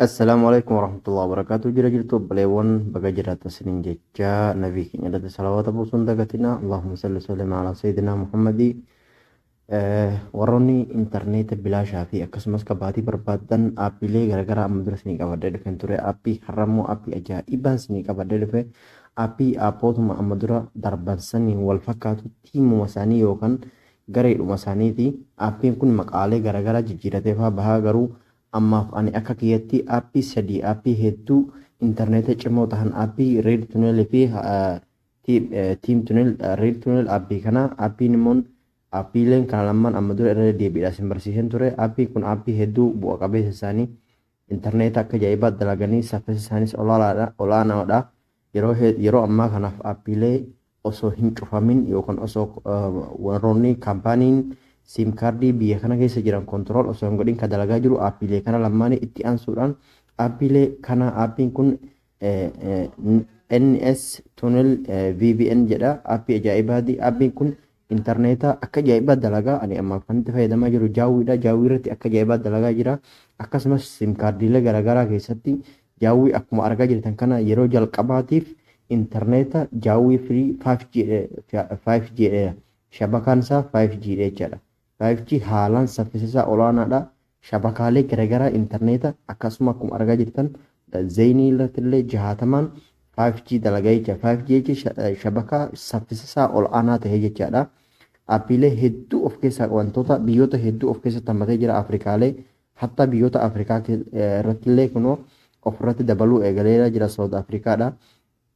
Assalaamu alaikum warahmatullahi wabarakatuh jira jirtu obboleewwan baga jiraatan isiniin jecha nabii keenya irratti salawaata buusuun hin dagatina allahumma salli sallim ala sayyidina muhammadi warroonni intarneeta bilaashaa fi akkasumas kabaatii barbaadan aappiilee garaagaraa amma dura isinii qabadhee dhufeen ture aappii har'a immoo aappii ajaa'ibaan isinii qabadhee dhufe aappii aappootuma amma dura darban saniin wal fakkaatu tiimuma isaanii yookaan Gareedhuma isaaniiti. Appiin kun maqaalee garagaraa jijjiiratee faa bahaa garuu ammaaf ani akka kiyyatti appii sadii appii hedduu interneeta cimoo tahan appii red tunnel fi team tunnel red tunnel appii kana appiin immoon appiileen kana lamman amma dura irra deddeebiidhaa isin barsiiseen ture appiin kun appii hedduu bu'a qabeessa isaanii Interneeta akka ajaa'ibaatti dalaganii saffisi isaanis olaalaadha, olaanaadha. Yeroo he- yeroo ammaa kanaaf aappiilee osoo hin cufamin yookaan osoo eh, warroonni kaampaaniin siim kaardii biyya kana keessa jiran kontirool osoo hin godhin kan dalagaa jiru aappiilee kana lammaanii itti aansuudhaan aappiilee kana aappiin kun NS Tunnel VPN jedha appii ajaa'ibaati appiin kun intarneetaa akka ajaa'ibaa dalagaa ani amma kanatti fayyadamaa jiru jaawwiidha jaawwii irratti akka ajaa'ibaa dalagaa jira akkasumas sim kaardiilee garaagaraa keessatti jaawwii akkuma argaa jirtan kana yeroo jalqabaatiif intarneeta jaawwii firii 5G dha shabakaan isaa 5G dha jechaadha 5G haalaan saffisisaa olaanaadha. Shabakaalee garagaraa interneeta akkasuma akkuma argaa jirtan Zeenii irrattillee jahaatamaan 5G dalagaa jecha. 5G jechi shabakaa saffisisaa ol'aanaa ta'ee jechaadha. Appiilee hedduu of keessaa qabantoota biyyoota hedduu of keessatti hammatee jira Afrikaalee hatta biyyoota Afrikaa irrattillee kunoo ofirratti dabaluu eegaleera jira Saawud Afrikaadha.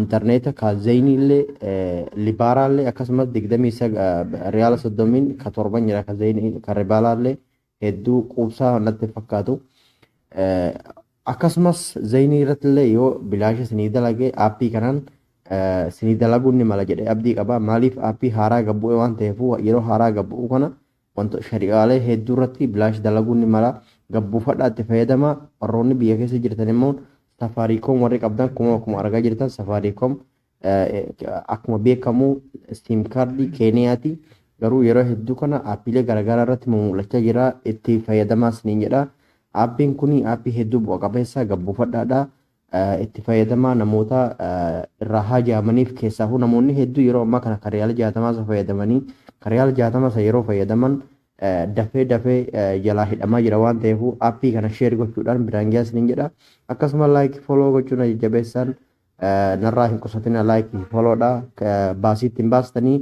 Interneeta ka zeyniillee libaaraallee akkasumas digdamii sag riyaala soddomiin ka torban jira ka zeynii ka ribaalaallee hedduu quubsaa natti fakkaatu. Akkasumas zeynii irrattillee yoo bilaasha sinii dalagee aappii kanaan sinii dalaguun ni mala jedhee abdii qaba. Maaliif aappii haaraa gabbu'e waan ta'eefuu yeroo haaraa gabbu'u kana Wanto shari'aalee hedduu irratti bilaash dalaguun ni mala. Gad buufadhaa itti fayyadamaa. Warroonni biyya keessa jirtan immoo Safaariikoom warri qabdan kuma akkuma argaa jirtan Safaariikoom akkuma beekamu siim kaardii Keeniyaati. Garuu yeroo hedduu kana aappiilee garaagaraa irratti mul'achaa jira. Itti fayyadamaa isiniin jedha. Aappiin kun aappii hedduu bu'a qabeessa gad buufadhaadha. itti fayyadamaa namoota irraa haajaamaniif keessaafuu namoonni hedduu yeroo ammaa kana kan riyaala jaatamaa isa fayyadamanii kan riyaala jaatama isa yeroo fayyadaman dafee dafee jalaa hidhamaa jira waan ta'eef appii kana sheer gochuudhaan biraan gahaa isiniin jedha akkasuma laayikii fooloo gochuun jajjabeessaan narraa hin qusatina laayikii fooloodha baasii ittiin baastanii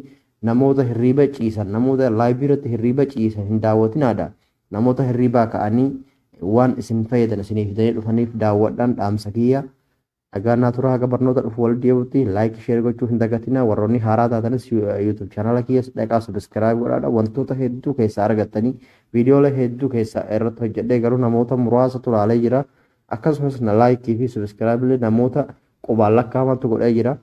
namoota hirriiba ciisan namoota laayivii irratti hirriiba ciisan hin daawwatinaadha Namoota hirriibaa ka'anii waan isin fayyadan isinii fidanii dhufaniif daawwadhaan dhaamsa kiyya. Nagaan naa turaa haga barnoota dhufu wal deebutti like share gochuu hin dagatinaa warroonni haaraa taatanis YouTube channel kiyyas dhaqaa subscribe godhaadha wantoota hedduu keessaa argattanii viidiyoolee hedduu keessaa irratti hojjedhee garuu namoota muraasa tulaalee jira akkasumas na like fi subscribe illee namoota qubaan lakkaa'amantu godhee jira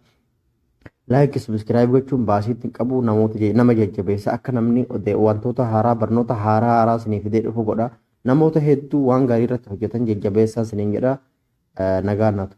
Like subscribe gochuun baasiitti hin qabu namoota je- nama jajjabeessa akka namni ode- wantoota haaraa barnoota haaraa haaraa sinii fidee dhufu godha namoota hedduu waan gaarii irratti hojjetan jajjabeessaa siniin jedha Eh, nagaan naatu.